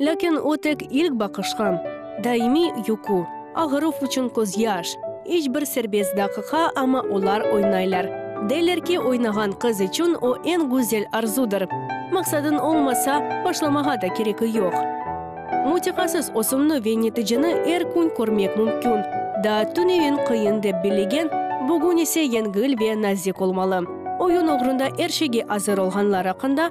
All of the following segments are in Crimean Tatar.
Lâkin o tek ilk baqışqa, daimiy yuqu, ağıruf içün közyaş, iç bir serbest daqıqa, amma olar oynaylar. Deyler ki, oynağan qız içün o eñ güzel arzudır. Maqsadıñ olmasa, başlamağa da kereki yoq. Mutiqasız ösümni ve neticeni er kün körmek mümkün. Daa tüneviñ qıyın dep billegen, bugün ise yengil ve nazik olmalı. Oyun oğrunda er şeyge azır olğanlar aqqında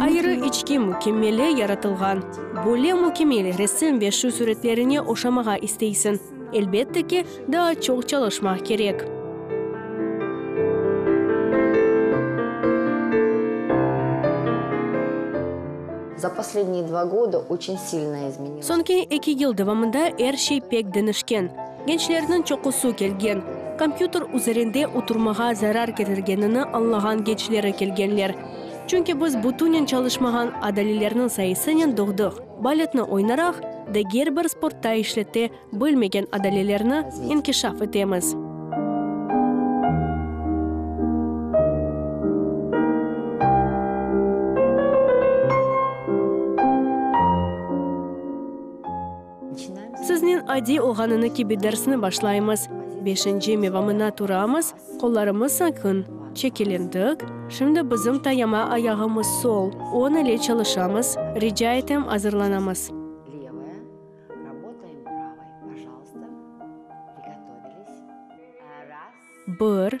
Ayırı içki mükemmele yaratılğan. Böyle mükemmel resim ve şu suretlerine oşamağa isteysiñ. Elbette ki, daa çoq çalışmaq kerek. Soñki eki yıl devamında er şey pek deñişken. Gençlerniñ çoqusı kelgen. Kompyuter üzerinde oturmağa zarar ketirgenini añlağan gençleri kelgenler. Çünki biz bütünen çalışmağan adalilerniñ sayısınen doğdıq. Baletni oynaraq, diger bir sportta işlete bilmegen adalilerni inkişaf etemiz. Siznen adiy olğanını kibi dersni başlaymız. Beşinci mevamına turamız, qollarımız saqın, çekelendik. Şimdi bizim tayama ayağımız sol, on ile çalışamız. Rica etem azırlanamız. Bir.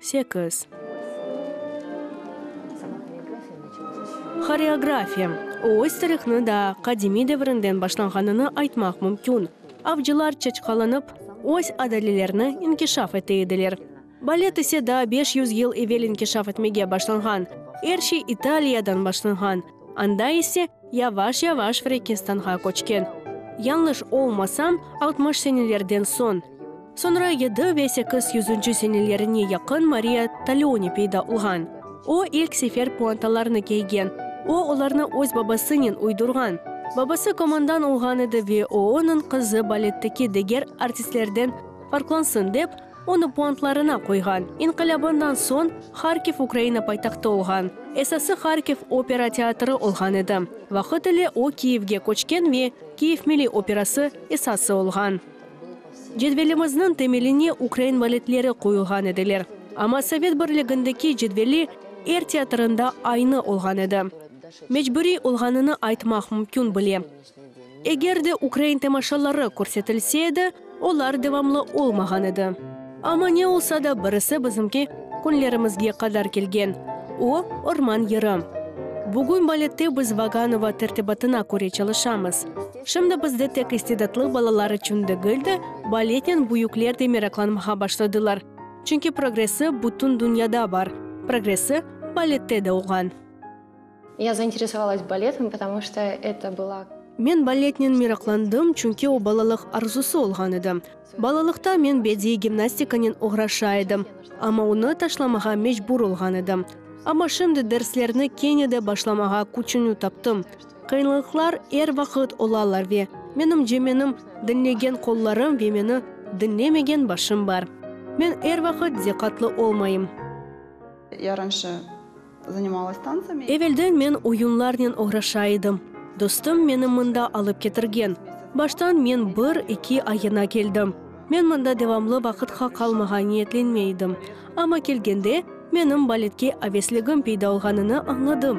Sekiz. Horeografiya. Öz tarihni daa qadimiy devrinden başlanğanını aytmaq mümkün. Avcılar çaçqalanıp, öz adalelerini inkişaf ete ediler. Balet ise daa beş yüz yıl evel inkişaf etmege başlanğan. Er şey İtaliyadan başlanğan, anda ise yavaş-yavaş Frekinstanğa köçken. Yañlış olmasam, altmış senelerden soñ. Soñra yedi ve sekiz yüzünci senelerine yaqın Mariya Taleoni peyda olğan. O, ilk sefer puantalarnı kiygen. O, olarnı öz babasınen uydurğan. Babası komandan olğan edi ve o, onıñ qızı baletteki diger artistlerden farqlansın dep, onı puantlarına qoyğan. İnqilâbından soñ Harkiv Ukraina paytahtı olğan. Esası Harkiv opera teatrı olğan edi. Vaqıt ile o, Kiyevge köçken ve Kiyev milliy operası esası olğan. Cedvelimizniñ temeline ukrain valetleri qoyulğan ediler, amma Sovet Birligindeki cedveli er teatrında aynı olğan edi. Mecburiy olğanını aytmaq mümkün bile. Eger de ukrain temaşaları körsetilse edi, olar devamlı olmağan edi. Amma ne olsa da birisi bizimki künlerimizge qadar kelgen, o, Orman yırı. Bugün balette biz Vaganova tertibatına köre çalışamız. Şimdi bizde tek istidatlı balalar içün degil de, baletnen büyükler de meraklanmağa başladılar, çünki progressi bütün dünyada bar, progressi balette de olğan. Ya zainteresovalas baletim, потому şta eto bıla. Men baletnen meraqlandım, çünki o balalıq arzusı olğan edi. Balalıqta men bediiy gimnastikanen oğraşa edim, amma onı taşlamağa mecbur olğan edim. Amma şimdi derslerni kene de başlamağa küçünü taptım. Qıyınlıqlar er vaqıt olalar ve menimce menim diñlegen qollarım ve meni diñlemegen başım bar. Men er vaqıt diqqatlı olmayım. Yarımşı. Evelden men oyunlarnen oğraşa edim. Dostum meni mında alıp ketirgen. Baştan men bir, iki ayına keldim. Men mında devamlı vaqıtqa qalmağa niyetlenmey edim. Amma kelgende, menim baletke avesligim peyda olğanını añladım.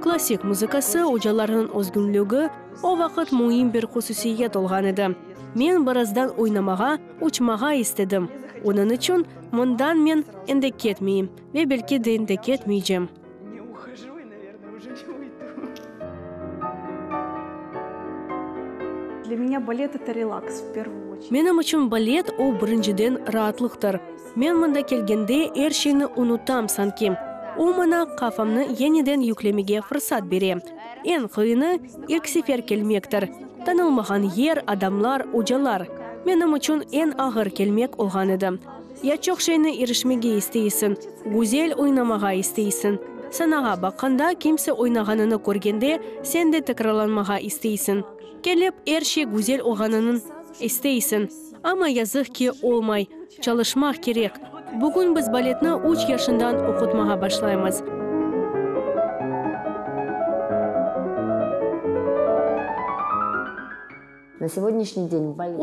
Klassik muzıkası, ocalarnıñ özgünligi o vaqıt müim bir hususiyet olğan edi. Men birazdan oynamağa, uçmağa istedim. Onıñ içün mından men endi ketmeyim. Ve belki den de ketmeycem. Menim içün balet o, birinciden, raatlıqtır. Men mında kelgende er şeyni unutam sanki. O maña qafamnı yeniden yüklemege fırsat bere. Eñ qıyını, ilk sefer kelmektir. Tanılmağan yer, adamlar, ocalar. Menim içün eñ ağır kelmek olğan edi. Ya çoq şeyni irişmege isteysiñ, güzel oynamağa isteysiñ. Sanağa baqqanda, kimse oynağanını körgende, sen de tekrarlanmağa isteysiñ. Kelip, er şey güzel olğanınıñ isteysiñ. Amma yazıq ki, olmay. Çalışmaq kerek. Bugün biz baletni üç yaşından oqutmağa başlaymız.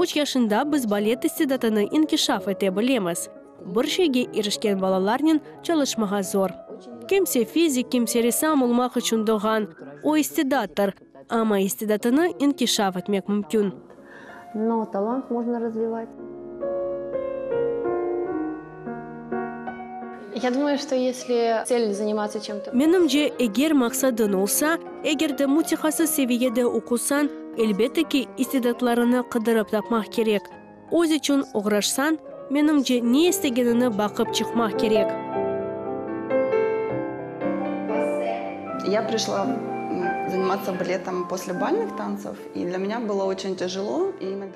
Üç yaşında biz balet istidatını inkişaf ete bilemiz. Bir şeyge irişken balalarnen çalışmağa zor. Kimse fizik, kimse ressam olmaq içün doğğan, o istidattır, amma istidatını inkişaf etmek mümkün. Menimce, eger maqsadıñ olsa, eger de mütehassıs seviyede oqusañ, elbette ki, istidatlarıñnı qıdırıp tapmaq kerek. Öz içün oğraşsañ, menimce, ne istegeniñni baqıp çıqmaq kerek.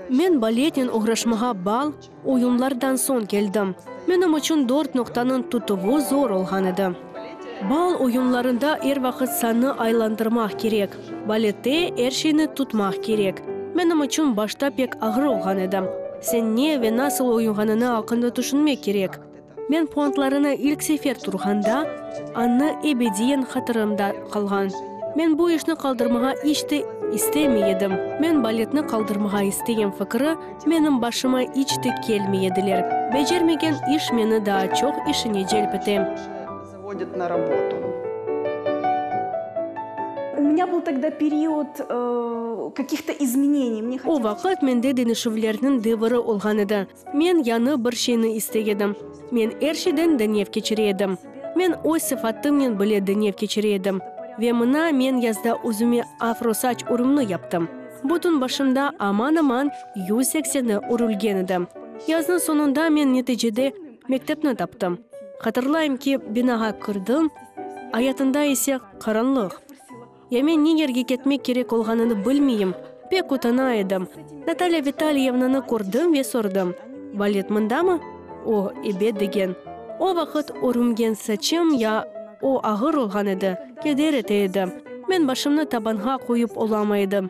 Men baletnen oğraşmağa bal, Oyunlardan soñ keldim. Menim içün dört noqtanıñ tutuvı zor olğan edi. Bal oyunlarında er vaqıt sanı aylandırmaq kerek. Balette er şeyni tutmaq kerek. Menim içün başta pek ağır olğan edi. Sen ne ve nasıl oyunğanıñı aqqında tüşünmek kerek. etti. Men puantlarını ilk sefer turğanda, Anna ebediyen hatırımda qalğan. Men bu işni qaldırmağa iç te istemey edim. Men baletni qaldırmağa istegen fikri menim başıma iç te kelmey ediler. Becermegen iş meni daa çoq işine celp ete. Zavodit na robotu. U mnâ bıl togda period kakih to izmeneniy. O vaqıt mende denişüvlerniñ deviri olğan edi. Men yañı bir şeyni istey edim. Men er şeyden deñev keçire edim. Men öz sıfatımnen bile deñev keçire edim. Ve mına men yazda özüme afro saç urumnı yaptım. Bütün başımda aman-aman yüz sekseni urulgen edi. Yaznıñ soñunda men neticede mektepni taptım. Hatırlayım ki, binağa kirdim, ayatında ise qaranlıq. Ya men ne yerge ketmek kerek olğanını bilmeyim, pek utana edim. Natalya Vitalyevnanı kördim ve sordım, Valet mındamı? O, ebet degen. O vaqıt örümgen saçım ya o ağır olğan edi, keder ete edi. Men başımnı tabanğa qoyıp olamay edim.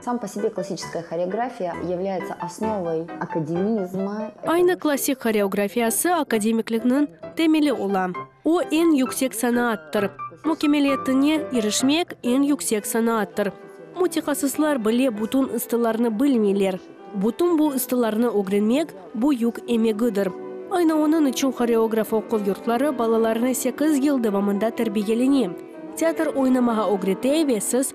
Sam po себе klassiçeskoye horeografiya yevlâyetse osnovoy akademizmı. Aynı klassik horeografiyası akademiklikniñ temeli ola. O, eñ yüksek sanaattır. Mukemeliyetine irişmek, eñ yüksek sanaattır. Mütehassıslar bile bütün ıstılarnı bilmeyler. Bütün bu ıstılarnı ögrenmek, büyük emegidir. Aynı onıñ içün horeograf oquv yurtları balalarını sekiz yıl devamında terbiyelene, teatr oynamağa ögrete ve siz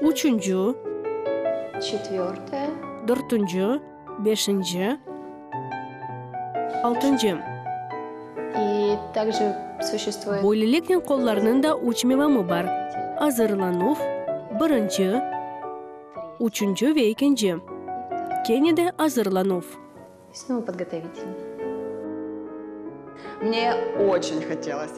Üçünci. Dörtünci, beşinci, altıncı. Böyleliknen qollarnıñ da üç mevamı bar, azırlanuv, birinci, üçünci ve ekinci, kene de azırlanuv. Snova podgotovitel.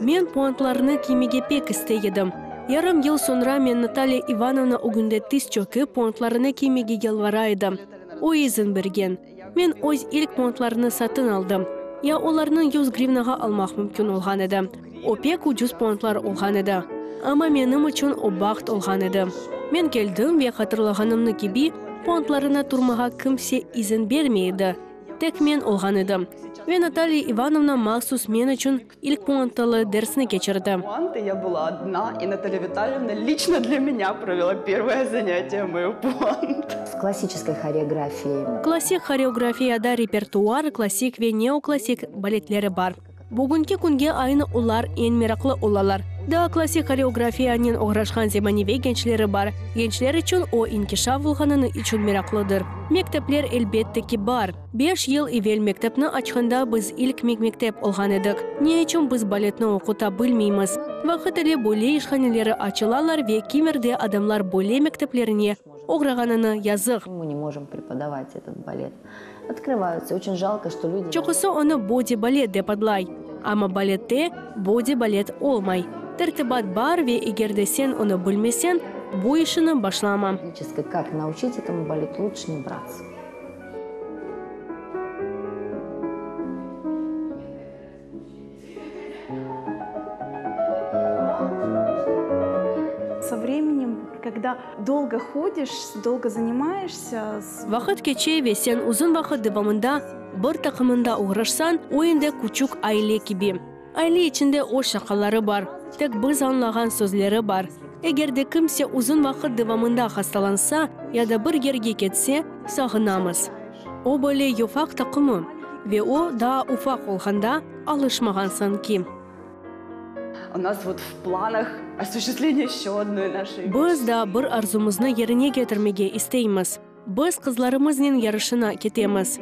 Men puantlarnı kiymege pek istey edim. Yarım yıl soñra men Natalya İvanovna ögünde tiz çökip, puantlarını kiymege yalvara edim. O izin bergen. Men öz ilk puantlarını satın aldım. Ya olarnıñ yüz grivnağa almaq mümkün olğan edi. O pek ucuz pontlar olğan edi, amma menim içün o baht olğan edi. Men keldim ve hatırlağanımnı kibi, pontlarına turmağa kimse izin bermey edi, tek men olğan edim. Ve Natalya İvanovna mahsus men içün ilk puantalı dersni keçirdi. Klassik horeografiyada repertuar, klassik ve neoklassik baletleri bar. Bugünki künge aynı olar eñ meraqlı olalar. Daa klassik horeografiyanen oğraşqan zemaneviy gençleri bar. Gençler içün o inkişaf olğanını içün meraqlıdır. Mektepler, elbette ki, bar. Beş yıl evel mektepni açqanda biz ilk mektep olğan edik. Ne içün biz baletni oquta bilmeymiz? Vaqıt ile böyle işhaneleri açılalar ve kimerde adamlar böyle mekteplerine oğrağanını yazıq. Çoqusı onı body balet dep adlay, amma balette body balet olmay, tertibat bar ve eger de sen onı bilmesen, bu işini başlama. Vaqıt keçe ve sen uzun vaqıt devamında bir taqımında oğraşsan, o endi küçük aile kibi. Aile içinde öz şaqaları bar, tek biz añlağan sözleri bar. Eger de kimse uzun vaqıt devamında hastalansa ya da bir yerge ketse, sağınamız. O böyle yufaq taqımı, ve o daa ufaq olğanda alışmağansıñ ki. Biz daa bir arzumıznı yerine ketirmege isteymiz, biz qızlarımıznen yarışına ketemiz.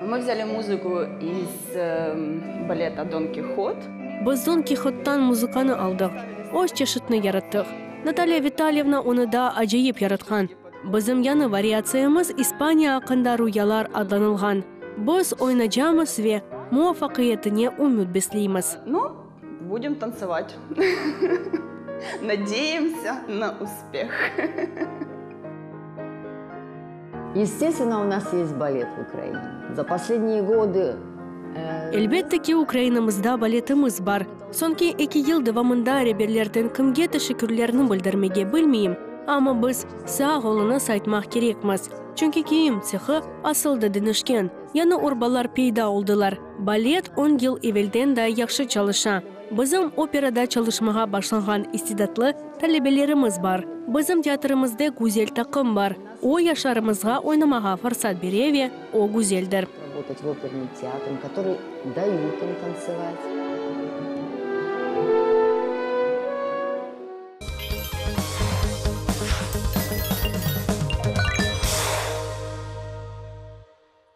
Мы vzâli muzıku iz baleta Don Kihot. Biz Don Kihottan muzıkanı aldıq, öz çeşitini yarattıq. Natalya Vitalyevna onı daa acayip yaratqan. Bizim yañı variatsiyamız İspaniya aqqında rüyalar adlanılğan. Biz oynacamız ve muvafaqiyetine ümüt besleymiz. Budim tantsovat. Nadeyemtsa na uspeh. Estestveno, u nas yest balet v Ukraina. Za posledniye godı. Elbette ki, Ukrainamızda baletimiz bar. Soñki eki yıl devamında reberlerden kimge teşekkürlerni bildirmege bilmeyim, amma biz, sağ oluñız aytmaq kerekmiz, çünki kiyim tsehı asıldı dinişken, yañı urbalar peyda oldılar. Balet on yıl evelden daa yahşı çalışa. Bizim operada çalışmağa başlağan istidatlı talebelerimiz bar. Bizim teatrımızde güzel taqım bar. O, yaşlarımızğa oynamağa fırsat bere ve o güzeldir.